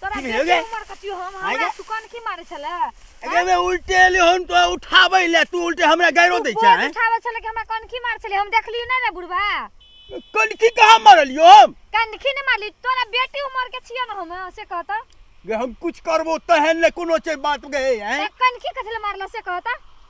तोरा की भेल गे? उमर कथी हम आइ हमरा गे? सुकन की मारे छले अगे बे उल्टे ले हम तो उठाबै ले तू उल्टे हमरा गायरो दै छै हैं? उठावे छले कि हमरा कनखी मार छले हम देखलियो नै रे बुढ़वा कनखी कहाँ मारलियो हम कनखी नै मारली तोरा बेटी उमर के छियो न हम से कहता गे हम कुछ करबो तहन ले कोनो छै बात गे हैं कनखी कथले मारला से कहता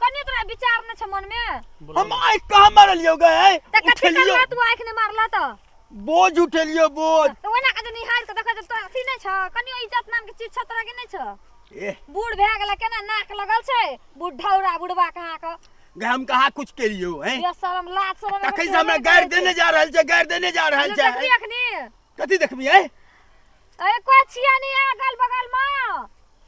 कनी तोरा विचार न छ मन में हम आँख कहाँ मारलियो गए त कथि उठेलियो करला तू आँख ने मारला त बोझ उठेलियो बोझ त ओना के जे निहार के देखै त अथी नै छ कनी इज्जत नाम के चीज छ तोरा के नै छ ए बूढ़ भए गेला केना नाक लगल छै बुढ़ौरा बुढ़वा कहाँ क गए हम कहाँ कुछ केलियो हैं ये शरम लाज शरम एगो तखन से हमरा तोरा गारि नै देने जा रहल छै गारि देने जा रहल छै। छै देखबी अखनी कथी देखबी हैं अरे कोइ छिया नै अगल बगल म